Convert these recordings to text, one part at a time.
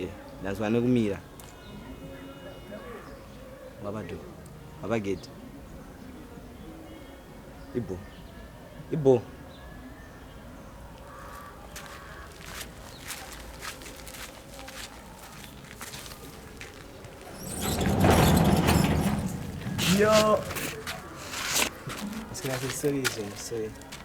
Eh, ndazwa nekumira wabado wabageti ibo ibo Yo. It's gonna be so easy, so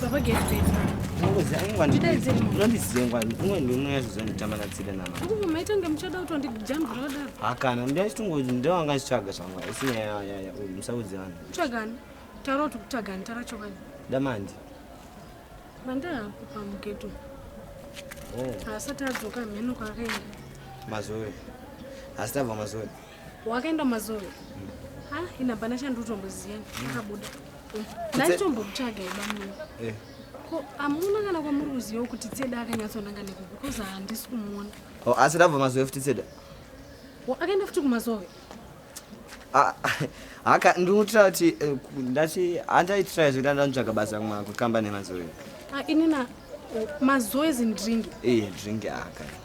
Baba get it. Ngozi aingwa ndi. Ndidai dziri. Ngozi dzengwa ndinwe ndinwe yazvizonitama na tsida nama. Uku maita ngemuchada kuti ndi jump roda. Hakana ndi achitungo ndo anga chitsvaga zvangwa. Isi ya ya ya musaudzi vanhu. Tsvagani. Taro tu tsvagani tara chokani. Damandi. Manda hapo pa mugeto. Oh. Asati adzoka mheno kwakaenda. Mazuri. Asitava mazuri. Wakaenda mazoro. Ha, ina bana chandu utomboziya. Akabuda. Ndaitombokutsvaga ibamwe. Eh. Ko amuna kana kwamuri kuziva kuti Tseda akanyatsonanga neku because handisi kumuona. Oh, asi ndabva mazove futi Tseda. Wo akaenda futi kumazove. Ah, haka ndinotira kuti eh, ndati andaitira zvekuti andanitsvaga basa kumwa kukamba nemazove. Ah, inina mazoe zindringi. Eh, dringi aka. Ah,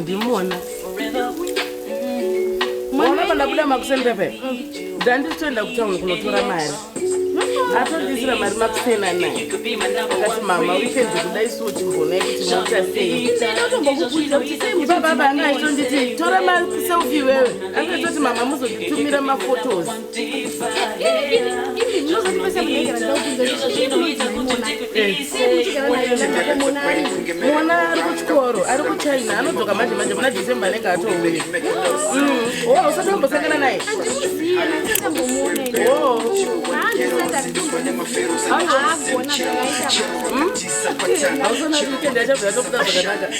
ndimona mwana pandabuda makuseni pepe ndanditoenda kutauni kunotora mari atondisira mari makusena naye akati mama wikendi kuda isu uchimboona yekuti moita sei baba anga aitonditi tora maselfi iwewe anga itoti mama muzonditumira mafotos mwana ari kuchikoro ari kuchina anodzoka manje manje muna decembe anenge atouya o usati wambosangana naye hausana kuitenda chabva yatokuda zvakanaka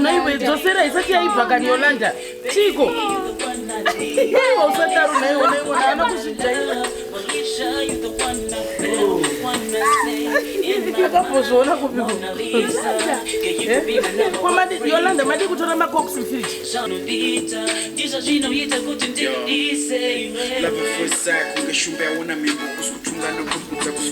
naiwe dzosera isati yaibva kani yolanda chiiko iwe usataro naiwe naiwe haana kuzvijaira akambozviona kupiko yolanda madi kutora macops mfiriji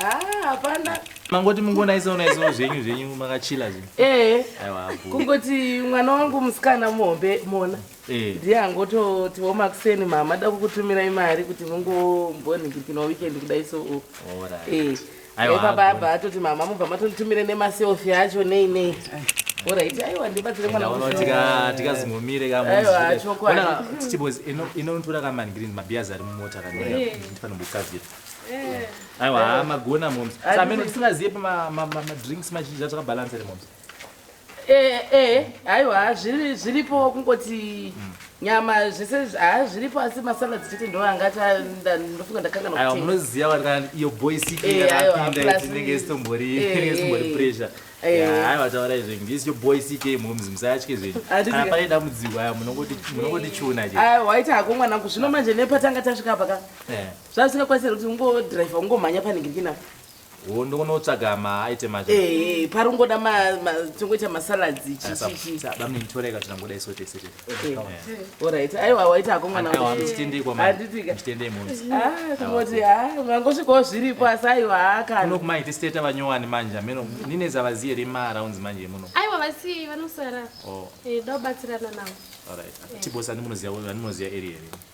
Ah, hapana mangoti mungonaisawo naisawo zvenyu zvenyu makachila zve ee kungoti mwana wangu musikana muhombe mona eh. ndiye angototiwo makuseni mama da kukutumira imari kuti mungombonhikipinwa weekend kudai so u eh. baba abva atoti mama mubva matonditumire nemaselfi acho nei nei orit aiwa ndibatsire mwana tikazingomire kamoona tichibos inonotora kamanigrini mabhiyazi ari mumota kanofanira eh. kukaziva aiwa haa magona moms sa amene tisingazive pamadrinks mazhinji atakabhalansa ere moms ee eh, eh, aiwa zviripo kungoti mm nyama zvese haa zviripo asi masala dzichiti ndo anga ndofunga ndakanganaa munoziva vari kana iyo boysikapindatinenge eh, sitombori eh, eh, sitombori pressure hai vataura izvo this your boy ck moms musatye zvenyu kana pane dambudziko aya munongoti chuna aiwaita hako mwanangu zvino manje nepatanga tasvika paka zvazingakwanisa kuti ungodriver ungomhanya panhingirikina wo ndokunotsvaga maaitem acho eh, pari ungoda tongoita masaladzi chichichibamuninditoreka tinangoda iso tese orit aiwa waita hako mwanaaitikoti mangosvikawo zviripo asi aiwa hakanokmaiti steta vanyowani manje ameno nine zavaziye rima arounds manje muno aiwa vasiye vanosara oh. eh, dobatsirana navo eh. tibosani munoziva vanoziva area here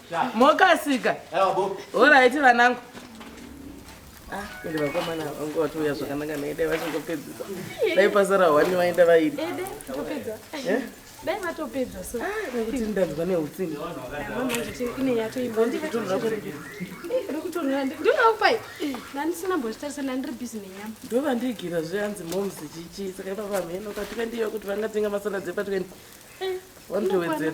mokasika horaiti vanangu ah, ende vakomana vangu vatiuya zvakanaka naidai vachingopedzisa dai pasara hwani vaenda vairi eh? dai vatopedza so ah, nekuti ndanzwa neutsinga ndovakupai ndandisina mbozvitarisa ndandiri busy nenyama ndovandiigira zve hanzi moms chichi saka ipapa mheno patwendi iyo kuti vangatenga masana dzepatwendi eh, vanotowedzera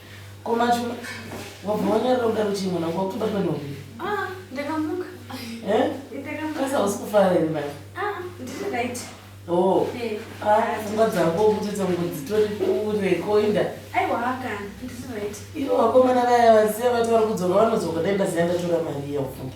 Ko machuma wabva wanyarira kudaro kuti mwana wako wakutobatwa nehope? Ah, ndakamuka. Eh? Ndakamuka. Kasa hausi kufara here manje? Ah, ndiri right. Oh. Eh. Ah, pfungwa dzako kuti dzangu dzitori kure koinda. Aiwa kana, ndiri right. Ivo vakomana vaya vaziya vati vari kudzoka vanodzoka dai ndaziya ndatora mari iya ufunge.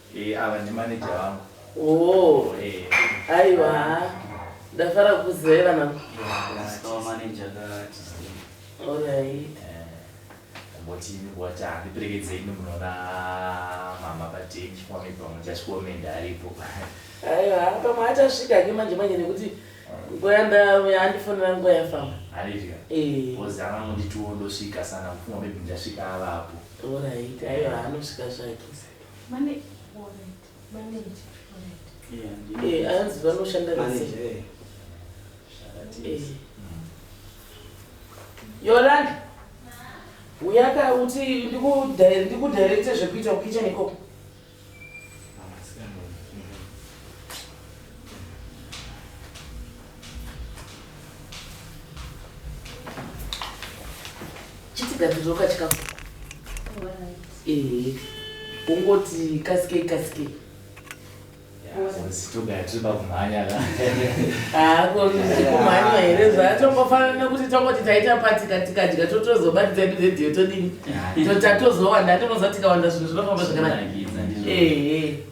Eh ava ndi manager vangu. Oh. Eh. Aiwa. Ndafara kuzivai vana. Ndasikawa manager ka Tuesday. Alright. Mboti ini wati andiperekedze ini munoona mama patenji kwame pamwe chashikomende aripo. Aiwa pamwe achasvika ke manje manje nekuti nguva yandauya andifonera nguva yafamba. Andifika. Eh. Bozi anga munditiwo ndosvika sana kufunga maybe ndasvika avapo. Alright. Aiwa anosvika zvake. hanzi vanoshanda yolanda uyaka uti ndikudirecte zvekuita kukichen ikoko chitigadziriro kachikafu ehe ungoti kasikei kasikei kumhanywa here zvatongofanana kuti tongoti taita patika tikadya totozobatidza edu redhiyo todini totatozowa ndatonoza tikawanda zvinhu zvinofamba zvakanaka ehe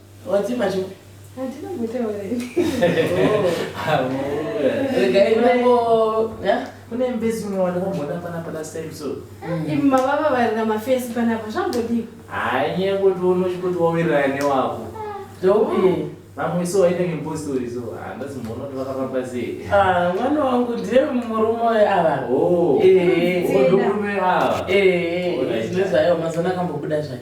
Wadzima chupi? Handina kutaura ini. Regai nango, yeah? Kune mbezi unowana kumboda pana pana same so. Imi mababa varira mafesi panapa zvambodii? Hanye kuti unochi kuti wawirira ne wako. Ndopi? Vamwe so waita ngempostori so handasi mbona kuti vakafamba sei. Ah, mwana wangu ndiye murume wayo ava. Oh. Eh. Ndokurume ava. Eh, Alright. zvine zvayo mazona akambobuda zvayo.